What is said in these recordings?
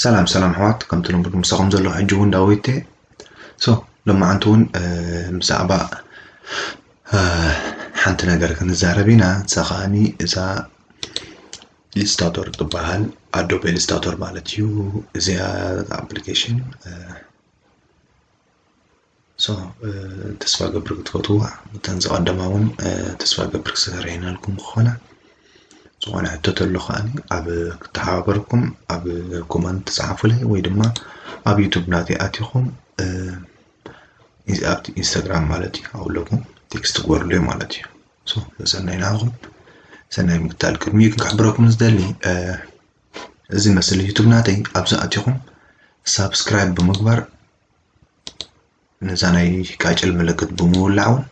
ሰላም ሰላም ኣሕዋት ከምቲ ልሙድ ምሳኹም ዘሎ ሕጂ እውን ዳዊት እየ ሶ ሎማዓንቲ እውን ብዛዕባ ሓንቲ ነገር ክንዛረብ ኢና እዛ ከዓኒ እዛ ኢልስታቶር ትበሃል ኣዶብ ኢልስታቶር ማለት እዩ እዚኣ ኣፕሊኬሽን ተስፋ ገብር ክትፈትዎ እተን ዝቐደማ እውን ተስፋ ገብር ክሰረይናልኩም ክኾነ ዝኾነ ሕቶ ተሎ ከዓ ኣብ ክተሓባበርኩም ኣብ ኮመንት ትፅሓፉለይ ወይ ድማ ኣብ ዩቱብ ናተይ ኣቲኹም ኣብ ኢንስታግራም ማለት እዩ ኣብኡ ኣለኩም ቴክስት ግበሩለይ ማለት እዩ ሰናይ ናኹም ሰናይ ምግታል ቅድሚኡ ክንክሕብረኩም ዝደሊ እዚ መስል ዩቱብ ናተይ ኣብዚ ኣቲኹም ሳብስክራይብ ብምግባር ነዛ ናይ ቃጭል ምልክት ብምውላዕ እውን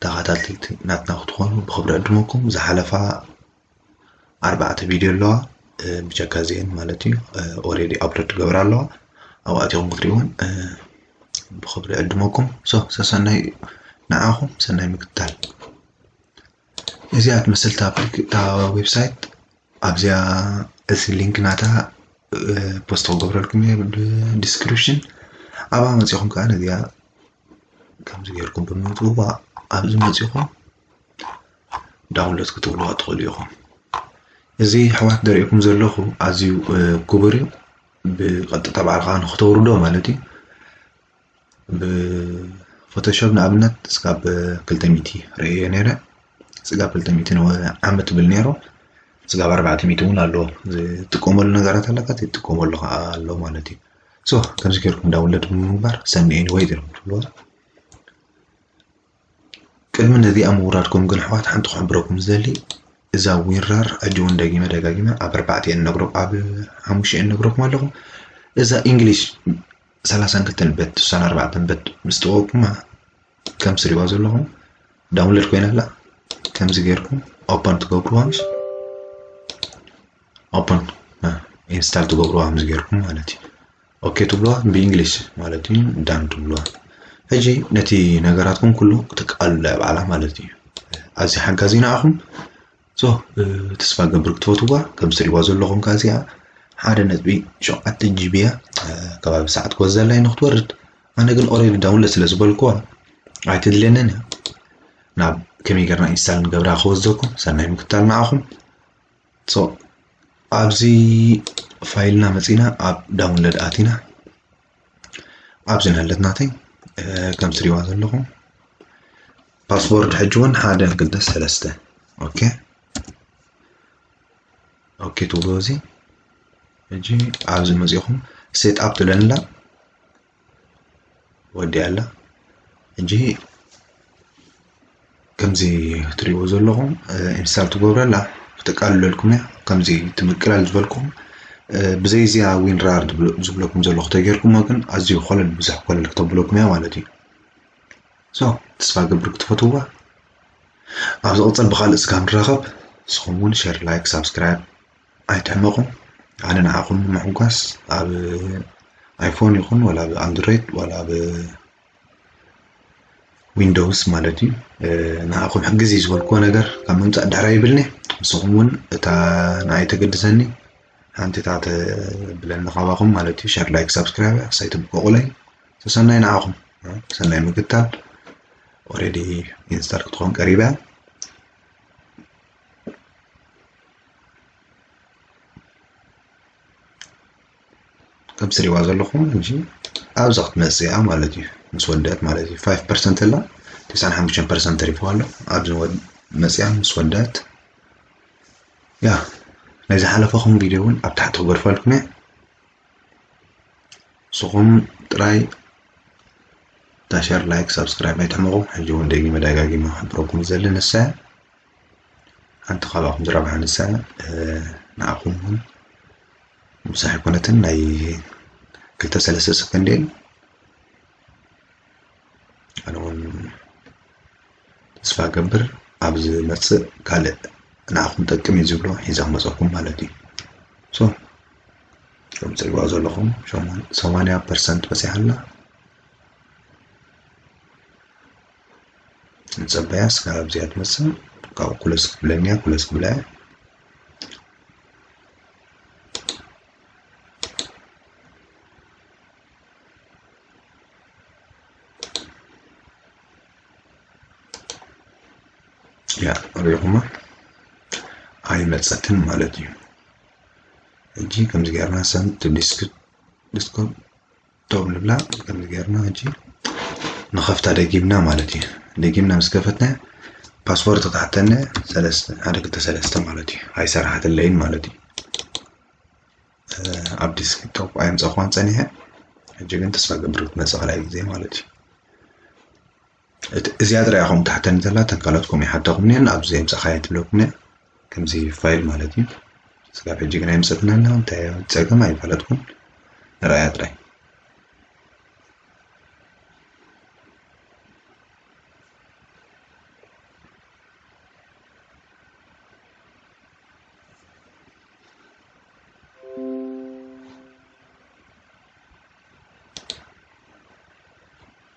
ተኸታተልቲ ናትና ክትኾኑ ብክብሪ ዕድመኩም ዝሓለፋ ኣርባዕተ ቪድዮ ኣለዋ ብጀካ እዚአን ማለት እዩ ኦሬዲ ኣፕሎድ ትገብር ኣለዋ ኣብኡ ኣቲኹም ክትሪእዎን ብክብሪ ዕድመኩም ሶ ሰሰናይ ንዓኹም ሰናይ ምክትታል እዚኣ ትመስል እታ ዌብሳይት ኣብዚኣ እዚ ሊንክ ናታ ፖስት ክገብረልኩም እየ ብዲስክሪፕሽን ኣብኣ መፂኹም ከዓ ነዚኣ ከምዚ ጌርኩም ብምውፅዋ ኣብዚ መፂኹም ዳውንሎድ ክትብልዋ ትኽእሉ ኢኹም እዚ ኣሕዋት ዘርእኩም ዘለኹ ኣዝዩ ክቡር እዩ ብቐጥታ ባዕልኻ ንክተውርዶ ማለት እዩ ብፎቶሾብ ንኣብነት እስካብ ክልተ ሚእቲ ርእየ ነይረ ስጋብ ክልተ ሚእቲ ዓመት ትብል ነይሩ ስጋብ ኣርባዕተ ሚእቲ እውን ኣሎ ዝጥቀመሉ ነገራት ኣለካ ዘይትጥቀመሉ ከዓ ኣሎ ማለት እዩ ሶ ከምዚ ገይርኩም ዳውንሎድ ብምግባር ሰኒ ኤኒወይ ገይርኩም ትብልዋ ቅድሚ ነዚኣ ምውራድኩም ግን ኣሕዋት ሓንቲ ክሕብረኩም ዝደሊ እዛ ዊራር ሕጂ እውን ደጊመ ደጋጊመ ኣብ ኣርባዕተ እየ ነግረኩም ኣብ ሓሙሽተ እየ ነግረኩም ኣለኹ እዛ እንግሊሽ ሰላሳን ክልተን በት ስሳን ኣርባዕተን በት ምስ ተወቅማ ከም ትሪእዋ ዘለኹም ዳውንሎድ ኮይና ኣላ ከምዚ ጌርኩም ኦፐን ትገብርዋ ምስ ኦፐን ኢንስታል ትገብርዋ ከምዚ ጌርኩም ማለት እዩ ኦኬ ትብሉዋ ብእንግሊዝ ማለት እዩ ዳን ትብሉዋ ሕጂ ነቲ ነገራትኩም ኩሉ ክትቃልሉ ኣብ ዓላ ማለት እዩ ኣዚ ሓጋዚ ንዓኹም ሶ ተስፋ ገብር ክትፈትዋ ከም ትሪእዋ ዘለኹም ከ እዚኣ ሓደ ነጥቢ ሸውዓተ ጂቢ እያ ከባቢ ሰዓት ክወዘላይ ንክትወርድ ኣነ ግን ኦሬዲ ዳውንሎድ ስለ ዝበልኩዋ ኣይትድልየንን እያ ናብ ከመይ ገርና ኢንስታል ንገብራ ክወዘኩም ሰናይ ምክታል ንዓኹም ሶ ኣብዚ ፋይልና መፂና ኣብ ዳውንሎድ ኣቲና ኣብዚ ናለት ናተይ ከም ትሪእዋ ዘለኹም ፓስወርድ ሕጂ እውን ሓደ ክልተ ሰለስተ ኦኬ ኦኬ ትብሉ እዚ ሕጂ ኣብዚ መፂኹም ሴት ኣፕ ትብለንላ ወዲኣ ኣላ ሕጂ ከምዚ ትሪእዎ ዘለኹም ኢንስታል ትገብሩ ኣላ ክተቃልለልኩም እያ ከምዚ እቲ ምቅላል ዝበልኩም ብዘይ እዚኣ ዊንራር ዝብለኩም ዘሎ ክተጌርኩሞ ግን ኣዝዩ ኮለል ብዙሕ ኮለል ክተብለኩም እያ ማለት እዩ ሶ ተስፋ ገብር ክትፈትዋ ኣብ ዝቕፅል ብካልእ ስጋ ንራኸብ ንስኹም እውን ሸር ላይክ ሳብስክራይብ ኣይትሕመቁ ኣነ ንዓኹም ንምሕጓስ ኣብ ኣይፎን ይኹን ወላ ኣብ ኣንድሮይድ ወላ ኣብ ዊንዶውስ ማለት እዩ ንዓኹም ሕግዝ እዩ ዝበልክዎ ነገር ካብ ምምፃእ ዳሕራ ይብልኒ ንስኹም እውን እታ ንዓይ ተገድሰኒ ሓንቲ እታ ተብለኒ ካባኹም ማለት እዩ ሸር ላይክ ሳብስክራይብ ክሳይ ትብቀቑለይ ተሰናይ ንዓኹም ሰናይ ምክታል ኦሬዲ ኢንስታል ክትኾን ቀሪባ ከም ትሪእዋ ዘለኹም እዚ ኣብዛ ክትመፅእ እያ ማለት እዩ ምስ ወደአት ማለት እዩ ፋይቭ ፐርሰንት ኣላ ትስዓን ሓሙሽተን ፐርሰንት ተሪፍዋ ኣሎ ኣብዚ መፅያ ምስ ወደአት ያ ናይ ዝሓለፈኹም ቪድዮ እውን ኣብ ታሕቲ ክገድፈልኩም እየ ንስኹም ጥራይ ዳሸር ላይክ ሳብስክራይብ ኣይትሕመቑ ሕጂ እውን ደጊመ ደጋጊመ ክሕብረኩም ዝደሊ ንሳ እያ ኣንተ ካባኹም ዝረብሓ ንሳ ንኣኹም እውን ምሳሕ ኮነትን ናይ ክልተ ሰለስተ ሰከንድ እየን ኣነ እውን ተስፋ ገብር ኣብ ዝመፅእ ካልእ ንኣኹም ጠቅም እዩ ዝብሎ ሒዛ ክመፀኩም ማለት እዩ ሶ ከም ፅልዋ ዘለኹም ሰማንያ ፐርሰንት በፂሓ ኣላ ንፀበያ እስካብ ኣብዚኣ ትመፅእ ካብኡ ኩለስ ክትብለኒ እያ ኩለስ ክብላ እየ ያ ሪኹማ ኣይመፀትን ማለት እዩ ሕጂ ከምዚ ገርና ሰንት ዲስክ ዲስኮም ዶብ ንብላ ከምዚ ጌርና ሕጂ ንኸፍታ ደጊምና ማለት እዩ ደጊምና ምስ ከፈትና ፓስፖርት ክትሓተኒ ሰለስተ ሓደ ክልተ ሰለስተ ማለት እዩ ኣይሰራሓትለይን ማለት እዩ ኣብ ዲስክቶፕ ኣየምፀእኳን ፀኒሐ ሕጂ ግን ተስፋ ገብር ክትመፅእ ካልኣይ ግዜ ማለት እዩ እዚኣ ጥራይ ኢኹም ትሓተኒ ዘላ እተን ካልኦት ከምኡ ይሓተኹም እኒአን ኣብዚ የምፃእኻየ ትብለኩም እያ ከምዚ ፋይል ማለት እዩ ስጋብ ሕጂ ግን ኣይምፀትን ኣላ እንታይ ፀገም ኣይፈለጥኩም ንረኣያ ጥራይ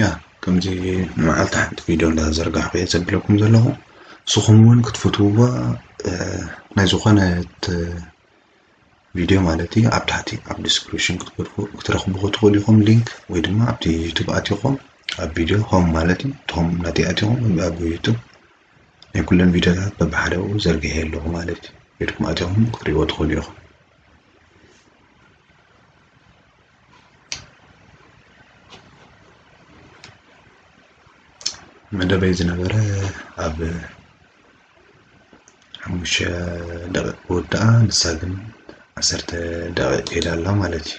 ያ ከምዚ መዓልቲ ሓንቲ ቪድዮ እንዳዘርጋሕኩ እየ ዘብለኩም ዘለኹ ንስኹም እውን ክትፈትውዎ ናይ ዝኾነት ቪድዮ ማለት እዩ ኣብ ታሕቲ ኣብ ዲስክሪፕሽን ክትረኽብዎ ትኽእሉ ኢኹም ሊንክ ወይ ድማ ኣብቲ ዩቱብ ኣትኹም ኣብ ቪድዮ ሆም ማለት እዩ ሆም ናተይ ኣትኹም ኣብ ዩቱብ ናይ ኩለን ቪድዮታት በብሓደ ኣብኡ ዘርጊሐ ኣለኹ ማለት እዩ ኢድኩም ኣትኹም ክትሪእዎ ትኽእሉ ኢኹም መደበይ ዝነበረ ኣብ ሓሙሽተ ደቂቕ ክውድኣ ንሳ ግን ዓሰርተ ደቂቕ ሄዳ ኣላ ማለት እዩ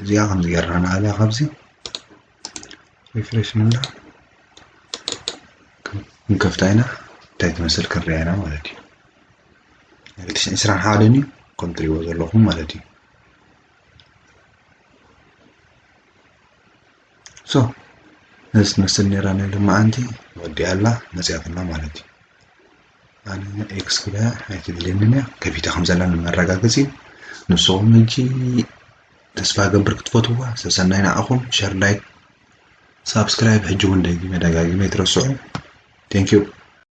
እዚኣ ከምዚ ጌርና ንኣልያ ካብዚ ሪፍሬሽ ንብላ ክንከፍታ ኢና እንታይ ትመስል ክንሪኣ ኢና ማለት እዩ ናይ ትሽን ዕስራን ሓደን እዩ ከም ትሪእዎ ዘለኹም ማለት እዩ ሶ ነዚ ትመስል ነይራ ናይ ሎማዓንቲ ወዲኣ ኣላ መፅያትና ማለት እዩ ኣነ ኤክስ ክብላ ኣይትደልየንን እያ ከፊታ ከም ዘላ መረጋገፂ እዩ ንስኹም ሕጂ ተስፋ ገብር ክትፈትዋ ሰሰናይ ንዓኹም ሸር ላይክ ሳብስክራይብ ሕጂ እውን ደጊመ ደጋጊመ ይትረስዑ ቴንኪዩ